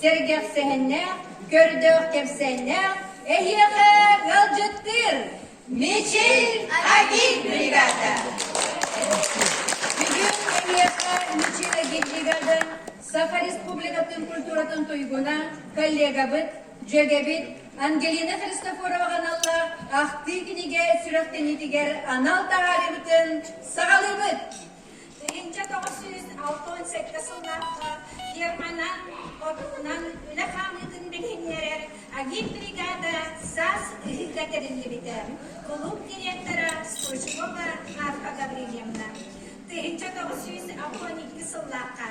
сэргэхсэһэннээх, көрдөөх кэпсээннээх, эһиэхэ ыалдьыттыыр Мичил Агит бригада. Бүгүн эһиэхэ Мичил Агит бригада Саха Республикатын культуратын туйгуна, коллегабыт, дьүөгэбит Ангелина Христофорова аналла ахтыы кинигэ сүрэхтэниитигэр анал таһаарыыбытын саҕалыыбыт. Инчэ тоҕус сүүс алта уон сэттэ сыллаахха фирмана отунан үлэ хаамыытын билиһиннэрэр агит-бригада САС ыһыыга тэриллибитэ. Кулууп директора Стручкова Марфа Гаврильевна. Тыһыынча тоҕус сүүс алта уон икки сыллаахха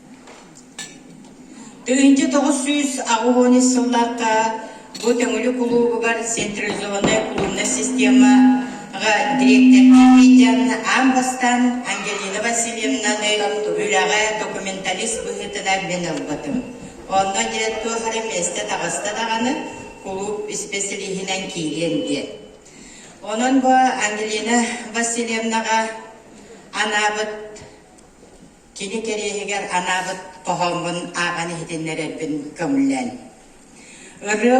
Тыһыынча тоҕус сүүс аҕыс уон ис сыллаахха бу Төҥүлү кулуубугар централизованная клубная системаҕа дириэктэрдии дьон аан бастаан Ангелина Васильевнаны үлэҕэ документалист быһыытынан мин ылбытым. Онно дьиэ туох эрэ миэстэ-таҕаста даҕаны кулууп исписэлииһинэн киириэн диэн. Онон бу Ангелина Васильевнаҕа анаабыт Кини кэриэһигэр анаабыт хоһооммун ааҕан иһитиннэрэрбин көҥүллээн, ырыа